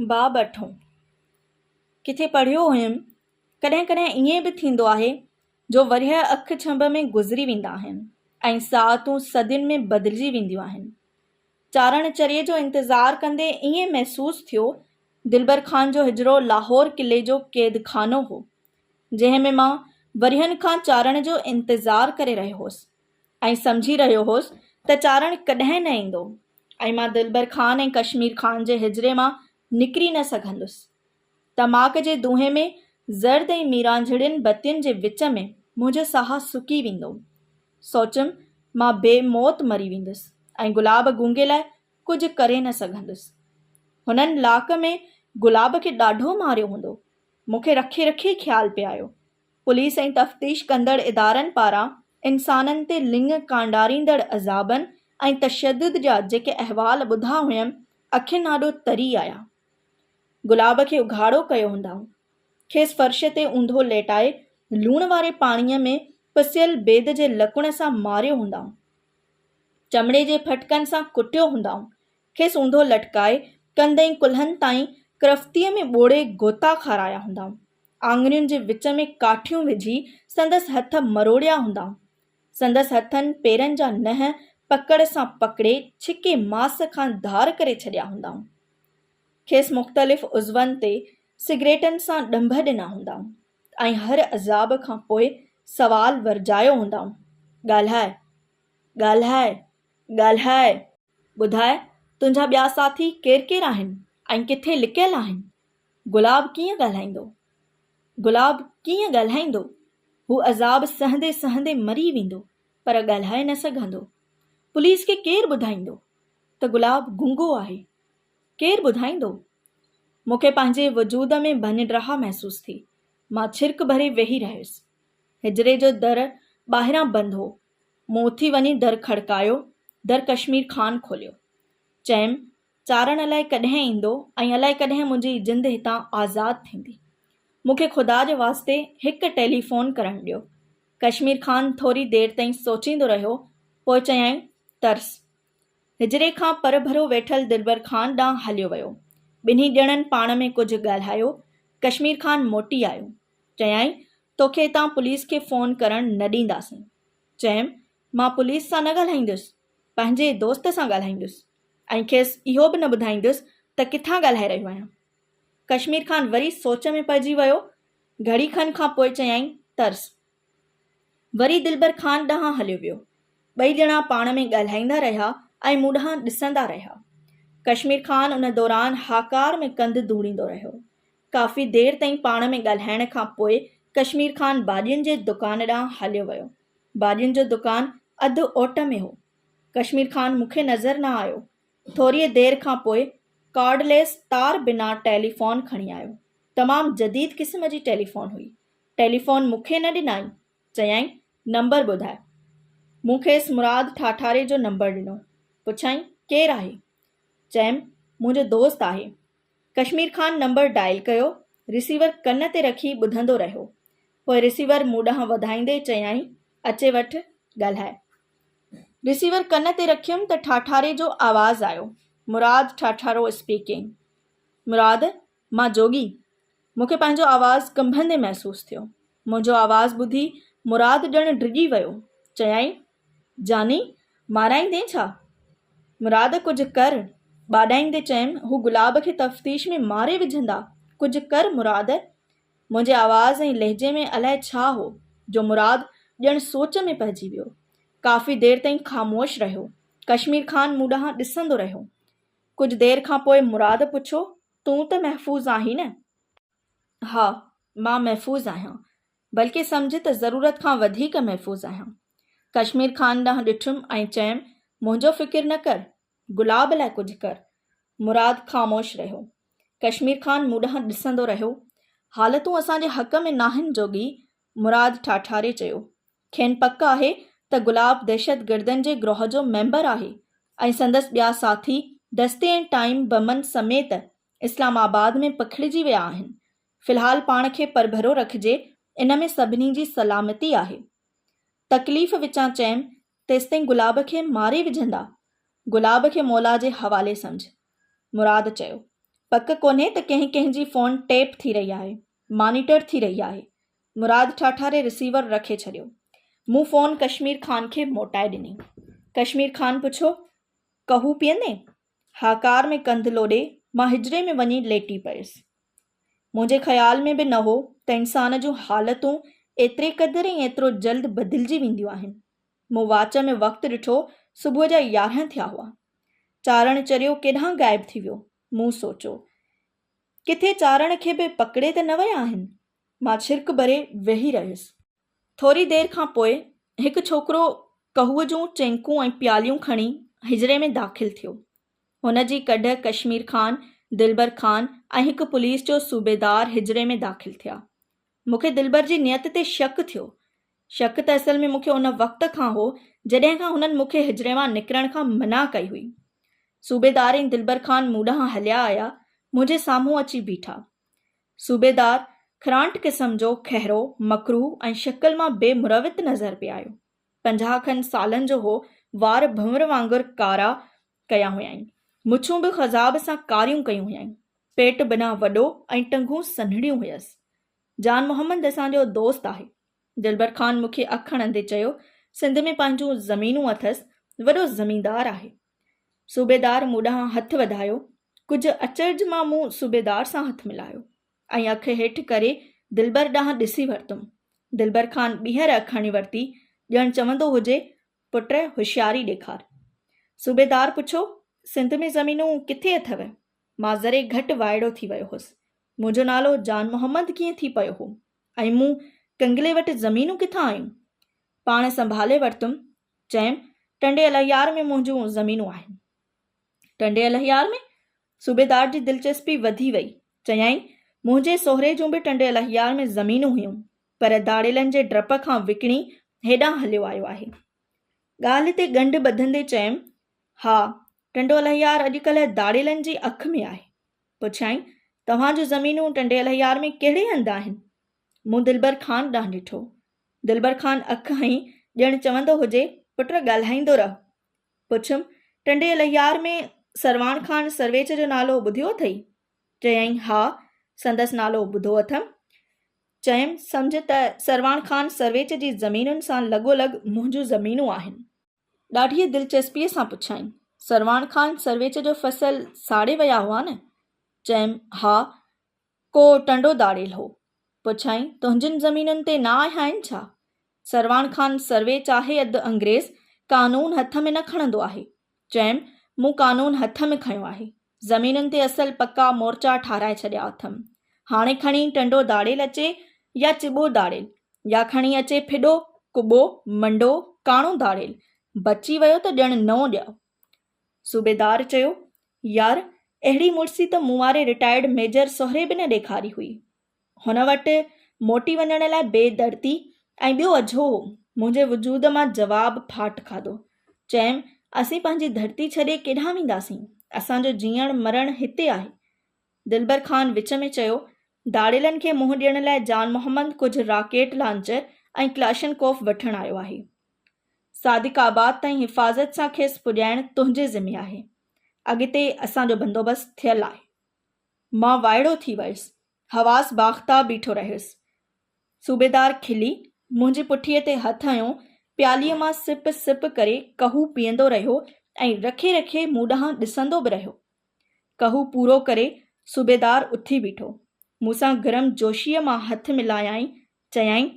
باب اٺون، ڪٿي پڙهيو هيم، ڪڏهن ڪڏهن ائين به ٿيندو آهي جو ورهيه اک ڇنڀ ۾ گذري ويندا آهن ۽ ساعتون صدين ۾ بدلجي وينديون آهن. چارڻ چريي جو انتظار ڪندي ائين محسوس ٿيو دلبر خان جو حجرو لاهور قلعي جو قيد خانو هو، جنهن ۾ مان ورهين کان چارڻ جو انتظار ڪري رهيو هوس. ائين سمجهي رهيو هوس ته چارڻ ڪڏهن نه ايندو ۽ مان دلبر خان ۽ ڪشمير خان جي حجري مان نڪري نه سگهندس. تماڪ جي دونهين ۾ زرد ۽ ميرانجهڙين بتين جي وچ ۾ منهنجو ساهه سڪي ويندو. سوچيم مان بي موت مري ويندس ۽ گلاب گونگي لاء ڪجهه ڪري نه سگهندس. هنن لاڪ ۾ گلاب کي ڏاڍو ماريو هوندو. مون کي رکي رکي خيال پئي آيو پوليس ۽ تفتيش ڪندڙ ادارن پاران انسانن تي لڱ ڪانڊاريندڙ عذابن ۽ تشدد جا جيڪي احوال ٻڌا هئم، اکين آڏو تري آيا. گلاب کي اگهاڙو ڪيو هوندائون. کيس فرش تي اونڌو ليٽائي لوڻ واري پاڻيء ۾ پسيل بيد جي لڪڻ سان ماريو هوندائون. چمڙي جي ڦٽڪن سان ڪٽيو هوندائون. کيس اونڌو لٽڪائي ڪنڌ ۽ ڪلهن تائين ڪرفتيء ۾ ٻوڙي غوطا کارايا هوندائون. آڱرين جي وچ ۾ ڪاٺيون وجهي سندس هٿ مروڙيا هوندا. سندس هٿن پيرن جا ننهن پڪڙ سان پڪڙي ڇڪي ماس کان ڌار ڪري ڇڏيا هوندائون. کيس مختلف عضون تي سگريٽن سان ڏنڀ ڏنا هوندائون ۽ هر عذاب کان پوء سوال ورجايو هوندائون، ڳالهاء! ڳالهاء! ڳالهاء! ٻڌاء تنهنجا ٻيا ساٿي ڪير ڪير آهن ۽ ڪٿي لڪيل آهن؟ گلاب ڪيئن ڳالهائيندو؟ گلاب ڪيئن ڳالهائيندو؟ هو عذاب سهندي سهندي مري ويندو پر ڳالهائي نه سگهندو. پوليس کي ڪير ٻڌائيندو ته گلاب گونگو آهي؟ ڪير ٻڌائيندو؟ مون کي پنهنجي وجود ۾ ڀڃڊراهه محسوس ٿي. مان ڇرڪ ڀري ويهي رهيس. حجري جو در ٻاهران بند هو. مون اٿي وڃي در کڙڪايو در ڪشمير خان کوليو. چيم، چارڻ الائي ڪڏهن ايندو ۽ الائي ڪڏهن منهنجي جند هتان آزاد ٿيندي. مون کي خدا جي واسطي هڪ ٽيلي فون ڪرڻ ڏيو. ڪشمير خان ٿوري دير تائين سوچيندو رهيو، پوء چيائين، ترس. حجري کان پرڀرو ويٺل دلبر خان ڏانهن هليو ويو. ٻنهي ڄڻن پاڻ ۾ ڪجهه ڳالهايو. ڪشمير خان موٽي آيو. چيائين، توکي هتان پوليس کي فون ڪرڻ نه ڏينداسين. چيم، مان پوليس سان نه ڳالهائيندس، پنهنجي دوست سان ڳالهائيندس ۽ کيس اهو به نه ٻڌائيندس ته ڪٿان ڳالهائي رهيو آهيان. ڪشمير خان وري سوچ ۾ پئجي ويو، گهڙي کن کان پوء چيائين، ترس. وري دلبر خان ڏانهن هليو ويو. ٻئي ڄڻا پاڻ ۾ ڳالهائيندا رهيا ۽ مون ڏانهن ڏسندا رهيا. ڪشمير خان ان دوران هاڪار ۾ ڪنڌ ڌوڙيندو رهيو. ڪافي دير تائين پاڻ ۾ ڳالهائڻ کان پوء ڪشمير خان ڀاڄين جي دڪان ڏانهن هليو ويو. ڀاڄين جو دڪان اڌ اوٽ ۾ هو. ڪشمير خان مون کي نظر نه آيو. ٿوريء دير کان پوء ڪارڊ ليس تار بنا ٽيلي فون کڻي آيو. تمام جديد قسم جي ٽيلي فون هئي. ٽيلي فون مون کي نه ڏنائين. چيائين، نمبر ٻڌاء. مون کيس مراد ٺاٺاري جو نمبر ڏنو. پڇيائين، ڪير آهي؟ چيم، منهنجو دوست آهي. ڪشمير خان نمبر ڊائل ڪيو، رسيور ڪن تي رکي ٻڌندو رهيو. پوء رسيور مون ڏانهن وڌائيندي چيائين، اچي وٺ، ڳالهاء. رسيور ڪن تي رکيم ته ٺاٺاري جو آواز آيو، مراد ٺاٺارو اسپيڪنگ. مراد، مان جوڳي. مون کي پنهنجو آواز ڪنڀندي محسوس ٿيو. منهنجو آواز ٻڌي مراد ڄڻ ڊڄي ويو. چيائين، جاني مارائيندين ڇا؟ مراد ڪجهه ڪر ٻاڏائيندي چيم هو گلاب کي تفتيش ۾ ماري وجهندا ڪجهه ڪر مراد منهنجي آواز ۽ لهجي ۾ الاء ڇا هو جو مراد ڄڻ سوچ ۾ پئجي ويو ڪافي دير تائين خاموش رهيو ڪشمير خان مون ڏانهن ڏسندو رهيو ڪجهه دير کان پوء مراد پڇيو تون ته محفوظ آهين نه؟ ها، مان محفوظ آهيان، بلڪه سمجهه ته ضرورت کان وڌيڪ محفوظ آهيان. ڪشمير خان ڏانهن ڏٺم ۽ چيم، منهنجو فڪر نه ڪر، گلاب لاء ڪجهه ڪر. مراد خاموش رهيو. ڪشمير خان مون ڏانهن ڏسندو رهيو. حالتون اسان جي حق ۾ ناهن جوڳي، مراد ٺاٺاري چيو. کين پڪ آهي ته گلاب دهشتگردن جي گروهه جو ميمبر آهي ۽ سندس ٻيا ساٿي دستي ۽ ٽائيم بمن سميت اسلام آباد ۾ پکڙجي ويا آهن، في الحال پاڻ کي پرڀرو رکجي ان ۾ سڀني جي سلامتي آهي. تڪليف وچان چيم تيستائين گلاب کي ماري وجهندا، گلاب کي مولا جي حوالي سمجهه. مراد چيو. پڪ ڪونهي ته ڪنهن ڪنهن جي فون ٽيپ ٿي رهي آهي، مانيٽر ٿي رهي آهي. مراد ٺاٺاري رسيور رکي ڇڏيو. مون فون ڪشمير خان کي موٽائي ڏني. ڪشمير خان پڇيو، قهوه پيئندين؟ هاڪار ۾ ڪنڌ لوڏي مان حجري ۾ وڃي ليٽي پيس. منهنجي خيال ۾ به نه هو ته انسان جون حالتون ايتري قدر ۽ ايترو جلد بدلجي وينديون آهن. مون واچ ۾ وقت ڏٺو، صبح جا يارهن ٿيا هئا. چارڻ چريو ڪيڏانهن غائب ٿي ويو؟ مون سوچيو. ڪٿي چارڻ کي به پڪڙي ته نه ويا آهن؟ مان ڇرڪ ڀري ويهي رهيس. ٿوري دير کان پوء هڪ ڇوڪرو ڪهوء جون چينڪون ۽ پياليون کڻي حجري ۾ داخل ٿيو. هن جي ڪڍ ڪشمير خان، دلبر خان ۽ هڪ پوليس جو صوبيدار حجري ۾ داخل ٿيا. مون کي دلبر جي نيت تي شڪ ٿيو. شڪ ته اصل ۾ مون کي ان وقت کان هو، جڏهن کان هنن مون کي حجري مان نڪرڻ کان منع ڪئي هئي. صوبيدار ۽ دلبر خان مون ڏانهن هليا آيا، منهنجي سامهون اچي بيٺا. صوبيدار خرانٽ قسم جو کهرو، مڪروهه ۽ شڪل مان بي مروت نظر پئي آيو. پنجاهه کن سالن جو هو، وار ڀنور وانگر ڪارا ڪيا هيائين، مڇون به خضاب سان ڪاريون ڪيون هيائين، پيٽ بنهه وڏو ۽ ٽنگون سنهڙيون هيس. جان محمد اسان جو دوست آهي. دلبر خان مون کي اک هڻندي چيو، سنڌ ۾ پنهنجون زمينون اٿس، وڏو زميندار آهي. صوبيدار مون ڏانهن هٿ وڌايو. ڪجهه اچرج مان مون صوبيدار سان هٿ ملايو ۽ اک هيٺ ڪري دلبر ڏانهن ڏسي ورتم. دلبر خان ٻيهر اک هڻي ورتي ڄڻ چوندو هجي، پٽ هوشياري ڏيکار. صوبيدار پڇيو، سنڌ ۾ زمينون ڪٿي اٿئو؟ مان ذري گهٽ وائڙو ٿي ويو هوس. منهنجو نالو جان محمد ڪيئن ٿي پيو هو ۽ مون ڪنگلي وٽ زمينون ڪٿان آيون؟ پاڻ سنڀالي ورتم چيم، ٽنڊي الهيار ۾ منهنجون زمينون آهن. ٽنڊي الهيار ۾؟ صوبيدار جي دلچسپي وڌي وئي. چيائين، منهنجي سهري جون به ٽنڊي الهيار ۾ زمينون هيون، پر ڌاڙيلن جي ڊپ کان وڪڻي هيڏانهن هليو آيو آهي. ڳالهه تي ڳنڍ ٻڌندي چيم، ها، ٽنڊو الهيار اڄڪلهه ڌاڙيلن جي اک ۾ آهي. پڇيائين، توهان جون زمينون ٽنڊي الهيار ۾ ڪهڙي هنڌ آهن؟ مون دلبر خان ڏانهن ڏٺو. دلبر خان اک هنئي ڄڻ چوندو هجي، پٽ ڳالهائيندو رهه. پڇيم، ٽنڊي لهيار ۾ سرواڻ خان سرويچ جو نالو ٻڌيو اٿئي؟ چيائين، ها، سندس نالو ٻڌو اٿم. چيم، سمجهه ته سرواڻ خان سرويچ جي زمينن سان لڳو لڳ منهنجون زمينون آهن. ڏاڍيء دلچسپيء سان پڇيائين. سرواڻ خان سرويچ جو فصل ساڙي ويا هئا نه؟ چيم، ها، ڪو ٽنڊو داڙيل هو. پڇيائين، تنهنجين زمينن تي نه آهيائين ڇا؟ سرواڻ خان سرويچ آهي اڌ انگريز، قانون هٿ ۾ نه کڻندو آهي. چيم، مون قانون هٿ ۾ کنيو آهي. زمينن تي اصل پڪا مورچا ٺاهرائي ڇڏيا اٿم. هاڻي کڻي ٽنڊو داڙيل اچي يا چٻو داڙيل، يا کڻي اچي ڦڏو، ڪٻو، منڊو، ڪاڻو داڙيل، بچي ويو ته ڄڻ نئون ڄائو. صوبيدار چيو، يار، اهڙي مڙسي ته مون واري رٽائرڊ ميجر سهري به نه ڏيکاري هئي. هن وٽ موٽي وڃڻ لاء بي دردي ۽ ٻيو اجهو هو. منهنجي وجود مان جواب ڦاٽ کاڌو. چيم، اسين پنهنجي ڌرتي ڇڏي ڪيڏانهن وينداسين؟ اسان جو جيئڻ مرڻ هتي آهي. دلبر خان وچ ۾ چيو، ڌاڙيلن کي منهن ڏيڻ لاء جان محمد ڪجهه راڪيٽ لانچر ۽ ڪلاشن ڪوف وٺڻ آيو آهي. صادق آباد تائين حفاظت سان کيس پڄائڻ تنهنجي ذمي آهي. اڳتي اسان جو بندوبست ٿيل آهي. مان وائڙو ٿي ويس. حواس باختا بيٺو رهيس. صوبيدار کلي، منهنجي پٺيء تي هٿ هنيو، پيالي مان سپ سپ ڪري قهوو پيئندو رهيو ۽ رکي رکي مون ڏانهن ڏسندو به رهيو. قهوو پورو ڪري، صوبيدار اٿي بيٺو. مون سان گرم جوشيء مان هٿ ملايائين، چيائين،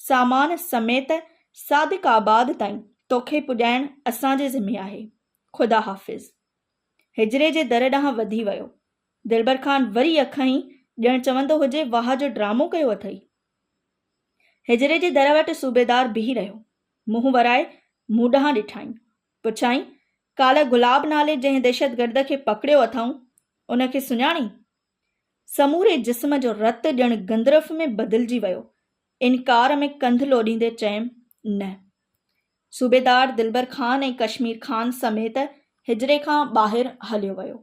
سامان سميت صادق آباد تائين توکي پڄائڻ اسان جي ذمي آهي. خدا حافظ. حجري جي در ڏانهن وڌي ويو. دلبر خان وري اک هنئي، ڄڻ چوندو هجي واهه جو ڊرامو ڪيو اٿئي. حجري جي در وٽ صوبيدار بيهي رهيو. منهن ورائي مون ڏانهن ڏٺائين. پڇيائين، ڪالهه گلاب نالي جنهن دهشتگرد کي پڪڙيو اٿائون، ان کي سڃاڻين؟ سموري جسم جو رت ڄڻ گندرف ۾ بدلجي ويو. انڪار ۾ ڪنڌ لوڏيندي چيم، نه. صوبيدار دلبر خان ۽ ڪشمير خان سميت حجري کان ٻاهر هليو ويو.